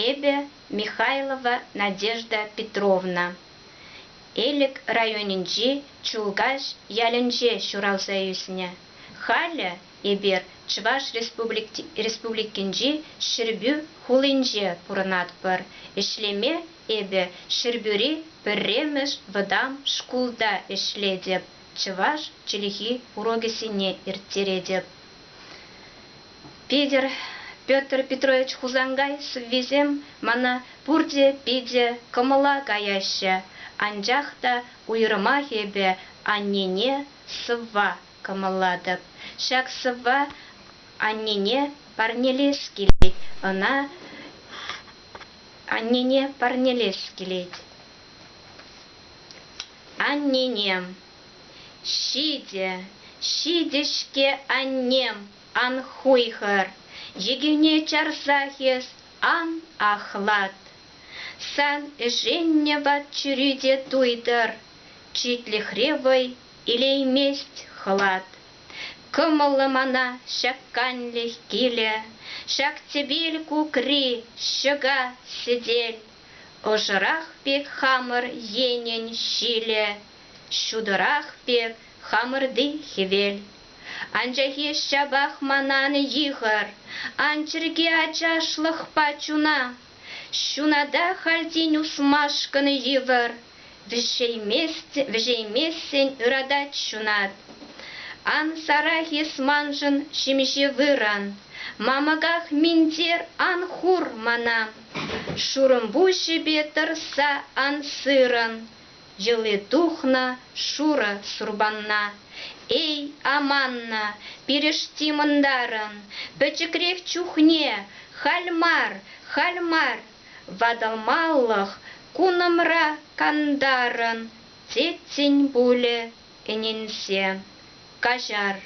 Эпӗ, Михайлова Надежда Петровна, Элӗк районӗнчи Чулкаҫ ялӗнче ҫуралса ӳснӗ. Халӗ эпир Чӑваш Республикинчи Ҫӗрпӳ хулинче пурӑнатпӑр. Ӗҫлеме эпӗ Ҫӗрпӳри пӗрремӗш вӑтам шкулта ӗҫлетӗп, чӑваш чӗлхи урокӗсене ирттеретӗп. Питӗр, Петр Петрович Хусанкай сӑввисем мана пурте питӗ кӑмӑла каяҫҫӗ, анчах та уйрӑмах эпӗ аннене сӑвва кӑмӑллатӑп. Ҫак сӑвва аннене парнелес килет, ӑна аннене парнелес килет. Анненем, ҫитӗ, ҫитӗ-ҫке аннем. Ан хуйхӑр, йӗкене чарсах эс ан ахлат. Сан ӗшеннӗ ват чӳри те туйтӑр, читлӗхре вӑй илеймест хӑлат. Кӑмӑллӑ мана ҫак канлӗх килӗ, ҫак тӗпел кукри ҫӑка сӗтел, ӑшӑрах пек хамӑр енӗн ҫилӗ, ҫутӑрах пек Хамӑрти хӗвел. Анчахи ҫапах манан йыхӑр, ан чӗрке ачашлӑхпа чуна. Ҫуната халь тин ушмашкӑн йывӑр, вӗҫеймессӗн ыратать ҫунат. Ан сарах эс маншӑн ҫемҫе вырӑн, мамӑках минтер ан хур мана. Шурӑмпуҫӗпе тӑрса ан сырӑн, Йӑли тухнӑ шурӑ сурпанна. Эй, аманнӑ, пирӗшти мӑнтарӑн пӗчӗкрех чухне халь мар, халь мар ватӑлмалӑх кунӑмра кантарӑн теттин пулӗ ӗненсе. Каҫар.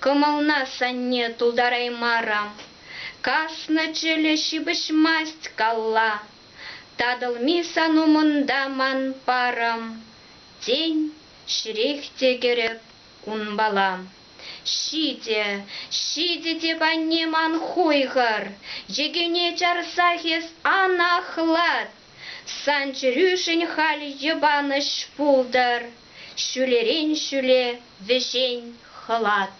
Кӑмӑлна санне тултараймарӑм. Каснӑ чӗлӗ ҫыпӑҫмасть калла. Татӑлми сан умӑнта ман парӑм, Тен, ҫӗрех те кӗрӗп унпала. Ҫитӗ, ҫитӗ теп, анне ман хуйхӑр, Йӗкӗне чарсах эс ан ахлат. Сан чӗрӳшӗн халь йӑпанӑҫ пултӑр, Ҫӳлерен ҫӳле вӗҫен хӑлат.